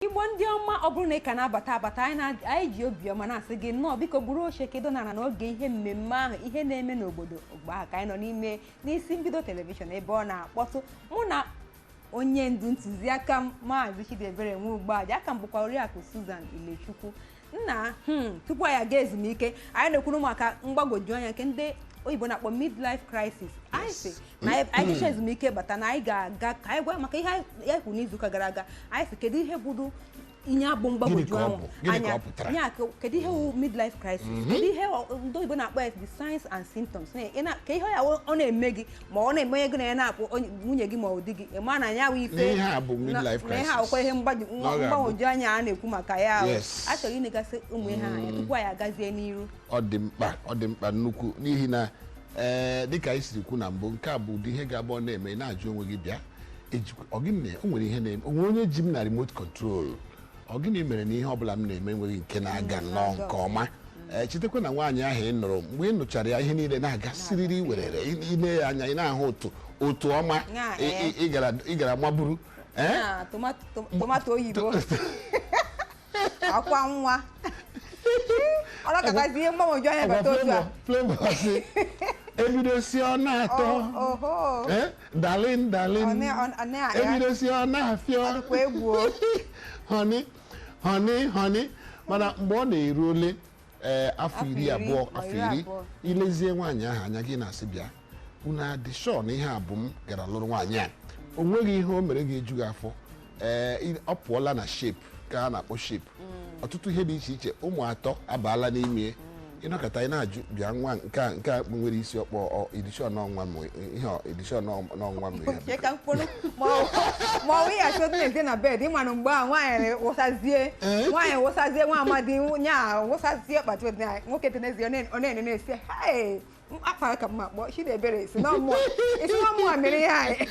igbo ndị ọma ọ bụrụ na ị ka na-abata abata anyị ji obiọma na-asị gị nnọọ biko buru oche kedo nara n'oge ihe mmemme ahụ ihe na-eme n'obodo mgbe ahụ ka anyị nọ n'ime n'isi mbido telivishọn ebe ọ na-akpọtụ mụ na onye ndu ntụziaka m maazị Chidiebere Nwugbaja aka m bụkwa oriakụ Susan Ilechukwu nna hmm, tupu anyị aga ezumike anyị na-ekwuru maka mgbagwoju anya nke ndị oyibo na-akpọ midlife crisis anyị sị na anyị jecha ezumike bata na anyị ga-aga ka anyị gwa maka ihe anyị kwuru n'izuụka gara aga anyị sị kedu ihe bụdụ ihe a bụ mgbagwoju anya ya kedu ihe wụ midlife crisis kedu ihe ndị oyibo na-akpọ ya the signs and symptoms ka ihe ya wụ- ọ na-eme gị ma ọ na-eme onye gị na ya na-akpọ onye- nwunye gị ma ọ di gị ị ma na ya wụ ife na ihe akwụkwọ ihe mgbagwoju anya a na-ekwu maka ya a chọrọ inegasị ụmụ ihe anya tupu anyị agazie n'iru ọ dị mkpa ọ dị mkpa nnukwu n'ihi na ee dịka anyị siri kwu na mbụ nke a bụ ụdị ihe ga-abụ ọ na-eme ị na-ajụ onwe gị bịa ejikwa- ọ gịnị na- o nwere ihe na-eme o nwe onye ji m na remote control ọ gịnị mere na ihe ọbụla m na-eme enweghị nke na-aga nnọọ nke ọma ee chetakwa na nwaanyị ahụ ị nụrụ mgbe ị nụchara ya ihe niile na-aga siriri werere ị- ile ya anya ị na-ahụ otu otu ọma ị gara maburu ee na tomato tomato oyibo akwa nwa ọ nọkatazi ihe mgbagwoju anya bata otu a ebido sị ọ na-atọ dalin dalin ebido sị ọ na-afịọ họni họni họni mana mgbe ọ na-eru ole afọ iri abụọ afọ iri i lezie nwaanyị ahụ anya gị na-asị bịa unu adị shọ na ihe a bụ m gara lụrụ nwaanyị a o nweghị ihe o mere ga-eju gị afọ ee i- ọ pụọla na shape ka a na-akpọ shape ọtụtụ ihe dị iche iche ụmụ atọ abaala n'ime ị nọkata ị na-ajụ bịa nwa nke a nke a nwere isi ọkpọ a dị shọ na ọ nwa m ihe a dị shọ na ọ nwa m ya Chee ka mkpụrụ ma ọ- ma ọ wụghị achọ otu na-ete na bed ị ma nụ mgbe a nwaanyị wụsazie nwaanyị wụsazie nwa amadi nya wụsazie kpatụ nwoke tenezie ọ na-ene na-asị "Hey, akpara ka mma kpọọ Chidiebere sị na ọ mụa mere ihe anyị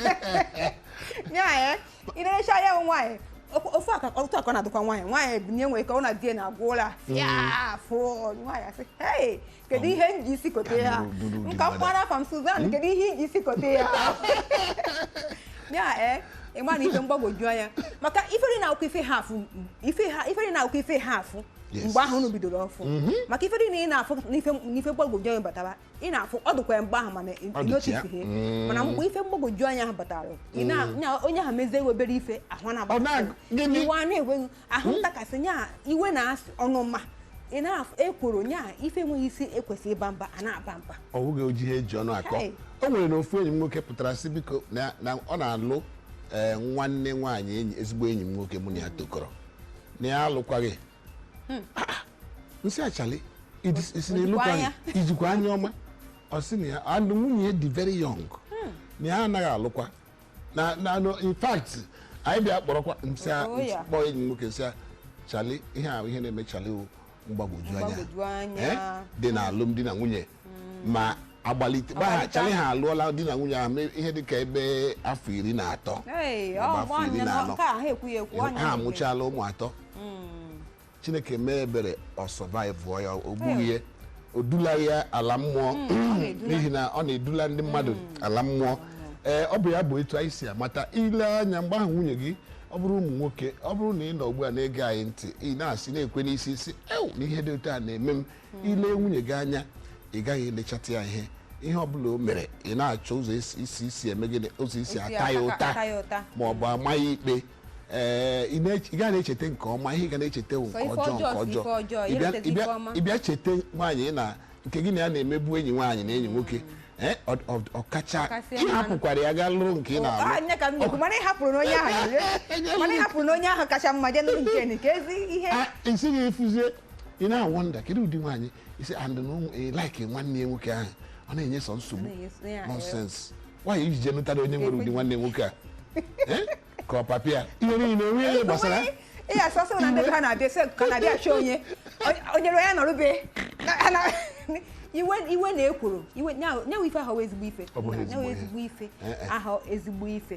ya ya ị nerecha ya bụ nwaanyị ofu- ofu aka otu aka ọ na-adịkwa nwaanyị nwaanyị ebinie nwere ka ọ na di ya na-agwọ ụra afụ nwaanyị asị hei kedu ihe m ji isi kote ya Buru- buru nke a dị mkpara afa m Suzan kedu ihe i ji isi kote ya ya ee ịma na ife mgbagwoju anya maka ifere na akwụkwọ ife ha afụ ife ha ifere na akwụkwọ ife ha afụ Yes. mgbe ahụ unu bidoro ọfụ maka ife dị na ị na-afụ n'ife n'ife mgbagwoju anya batara ị na-afụ ọ dịkwa ya mgbe ahụ mana ị- Ọ ị dịcha. notice ihe Mm. mana mgbe ife mgbagwoju anya ahụ batara ị na- nya- onye ahụ mezie iwe obere ife ahụ Ọ na- na-agba gịnị? iwe a na-enweghị ahụ ntakasị nya iwe na ọnụma ị na-afụ ekworo nya ife enweghị isi ekwesị ịba mba a na-aba mba ọ bụghị oji ihe eji ọnụ akọ Hey. o nwere na ofu enyi m nwoke pụtara sị biko na na ọ na-alụ ee, nwanne nwaanyị enyi ezigbo enyi m nwoke mụ na ya tokọrọ na ya alụkwaghị hmm. ah, ah. nsị a Chali ị sị na ị lụkwaghị i jikwa anya ọma ọ sị na ya and nwunye dị very young hmm. na ya anaghị alụkwa na na in fact anyị bịa kpọrọkwa nsị oh, kpọọ enyi m nwoke nsị Chali ihe a ihe na-eme Chali mgbagwoju anya eh? dị na alụmdi na nwunye ma agbalite ma ha Agbalite Chali ha alụọla di na nwunye ahụ mee ihe dị ka ebe afọ iri na atọ Hey, ma ọ bụ afọ ọnya iri na na anọ. nke a ha ekwughị ekwu ọnya ha na-ekwu. amụchala ụmụ atọ Mm. chineke mee ebere ọ survivuọ ya o gbughị ya o dula ya ala mmụọ na-edula. n'ihi na ọ na-edula ndị mmadụ ala mmụọ ee ọ bụ ya bụ etu anyị si amata ile anya mgbe ahụ nwunye gị ọ bụrụ ụmụ nwoke ọ bụrụ na ị nọ ugbu a na-ege anyị ntị ị na-asị na-ekwe n'isi ị sị ewu na ihe dị otu a na-eme m hmm. ile nwunye gị anya ị gaghị elechata ya ihe ihe ọbụla o mere ị na-achọ ụzọ isi isi eme gịnị ụzọ isi ata ya ụta ma ọ bụ ama ya ikpe ee ị gaghị na-echeta nke ọma ihe ị ga na-echeta nke ọjọọ nke ọjọọ ị bịa cheta nwaanyị na nke gị na ya na-emebu enyi nwaanyị na enyi nwoke Eh, ọkacha ịhapụkwara ya gaa lụrụ nke ị na-alụ mana ịhapụrụ n'onye ahụ kacha mma jee nụrụ nke nke ezi ihe isi gị efuzie ị na-awonder kedu ụdị nwaanyị isi and like nwanne ya nwoke ahụ ọ na-enye sọ nsogbu nonsense nwaanyị iji jee nụtara onye nwere ụdị nwanne nwoke a eh? ka ọ papịa ihe niile o nwee ihe gbasara ihe asọsọ na ndị ha na-abịa sị ka na-abịa achọ onye onye ya nọrụbe iwe iwe na-ekworo nyanwụ ife ahụ ezigbo ife ezigbo ife eh, eh. ahụ ezigbo ife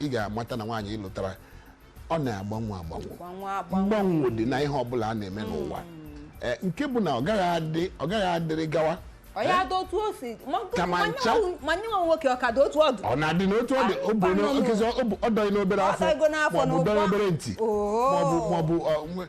ị ga-amata na nwaanyị ịlụtara ọ na-agbanwe agbanwe Kwa nwa agbanwe. mgbanwe dị na ihe ọbụla a na-eme n'ụwa Eh, nke bụ na ọ gaghị adị- ọ gaghị adịrị gawa ọ ya dị otu o si ma nke- Ka ma ma nye ncha. nwa- ma nye nwa nwoke ọ ka dị otu ọ dụ ọ na-adị n'otu ọ dị Ah, ọ bụ na- mkpanụ. okezi ọ bụ- ọ dọghị n'obere Ọ afọ dọghịgo n'afọ maọbụ n'ụgbọ. dọghị obere ntị Oo. maọbụ maọbụ ọ, nwe-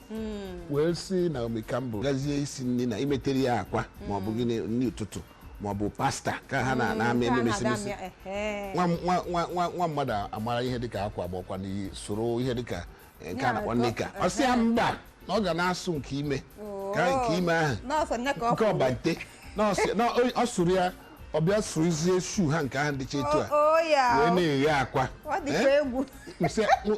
wee sị Naomi Campbell gazie isi nri na imetere ya akwa ma ọ bụ gịnị nri ụtụtụ ma ọ bụ pasta ka ha na na-amị eme mesimesi nwa nwa- nwa- nwa- nwa mmadụ amara ihe dịka akwa ma ọkwa n'iyi sụrụ ihe dịka eh, nke a na-akpọ knicker ọ sị ya mba na ọ ga na-asụ nke ime ka nke ime ahụ n'ọsọ nne ka ọ nke ọbante na ọ sị- na ọ- ọ sụrụ ya ọ bịa sụrụzie shoe ha nke ahụ dịcha etu a o ya wee na-eghe akwa ọ dịkwa Eh? egwu Nsị-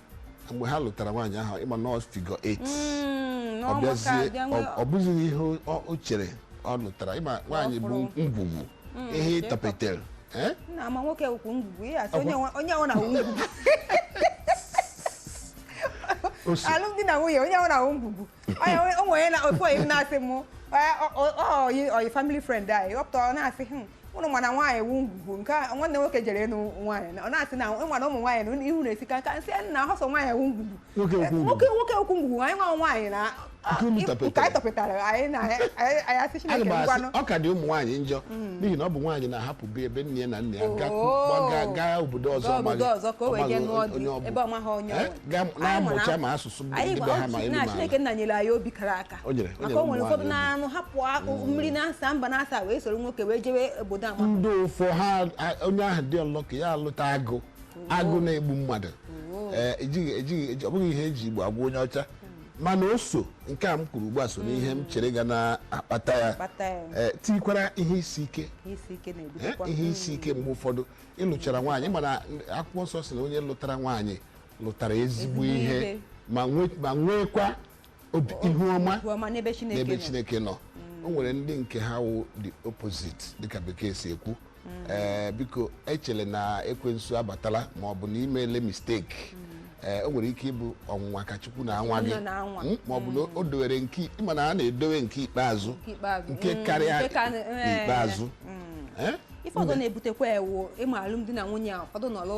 mgbe ha lụtara nwaanyị ahụ ị ma na ọ figure 8 Mm, ọ n'ọgbakọ bịazie abịa nwee- ọ- ọ bụzighị ihe o- o chere ọ lụtara ị ma nwaanyị bụ fụrụ. ngwugwu ihe nke ị tọpetere Eh? na ma nwoke wụkwu ngwugwu ihe asị onye nwe- onye ọwụna wụ ngwugwu O si- alụmdi na nwunye onye ọwụna wụ ngwugwu o nwere na ofu oyi m na-asị m oyi family friend anyị ọ pụta ọ na-asị hmm, ụnụ ma na nwaanyị wụ ngwugwu nke nwanne nwoke jere ịnụ nwaanyị ọ na-asị na ị ma na ụmụ nwaanyị na ihu na-esika nka m sị na ahọ sọ nwaanyị wụ ngwugwu nwoke nwoke wụkwu ngwugwu anyị nwa nwaanyị na nke anyị tọpụtara anyị na anyị asị Chineke ngwanụ ọ ka dị ụmụ nwaanyị njọ hmm. n'ihi na ọ bụ nwaanyị na-ahapụ be ebe nne ya na nna ya oh. gaa obodo ọzọ onye ọ bụ eh? na-amụcha ma asụsụ anyị gwa na Chineke nna nyere anyị obi kara aka maka o nwere ụfọdụ na-anụ hapụ mm. mmiri na asaa mba na asaa wee soro nwoke wee jewe obodo ama ndị ụfọ ha onye ahụ dị unlucky ya alụta agụ mm. agụ na-egbu mmadụ mm. eh, ejighị ọ bụghị ihe e ji Igbo agwa onye ọcha mana o so nke a m kwuru ugbu a so n'ihe m chere ga na-akpata ya eh, tikwara ihe isi ike eh, ihe isi ike mgbe ụfọdụ ị lụchara nwaanyị mana akwụkwọ nsọ sị na onye lụtara nwaanyị lụtara ezigbo ihe ma nweekwa ihu ọma n'ebe Chineke nọ mm. o nwere ndị nke ha wụ the opposite dịka Bekee si ekwu mm. eh, biko echele na ekwensu abatala ma ọ bụ na i meele mistake mm. Eh, o nwere ike ịbụ ọnwụnwa ka Chukwu na-anwa gị hmm? ma ọ bụ na o dowere nke ị ma na a na-edowe nke ikpeazụ nke hmm, karịa eh, ikpeazụ hmm. eh? ife ọzọ na-ebutekwa ya wụ ị ma alụmdi na nwunye a ụfọdụ nọlụ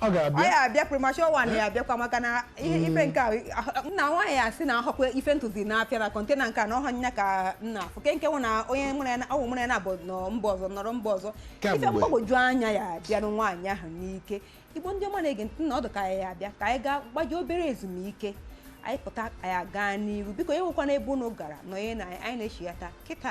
ọ ga-abịa ya abịa premature one ya abịakwa maka na ihe mm. ife nke a nna nwaanyị ya sị na ahọkwa ife m tụzi n'afịa na container nke a na ọha nya ka m na-afụ ke nke nwụ na onye ọwụ mụrụ ya na abụ nọ mba ọzọ nọrọ mba ọzọ ife mgbagwoju anya ya abịanụ nwaanyị ahụ n'ike Igbo ndị ọma na-ege ntị na ọdụ ka ya abịa ka anyị gaa gbaji obere ezumike anyị pụta anyị gaa n'iru biko enwekwana ebe unu gara nọnye na anyị na-echighata kịta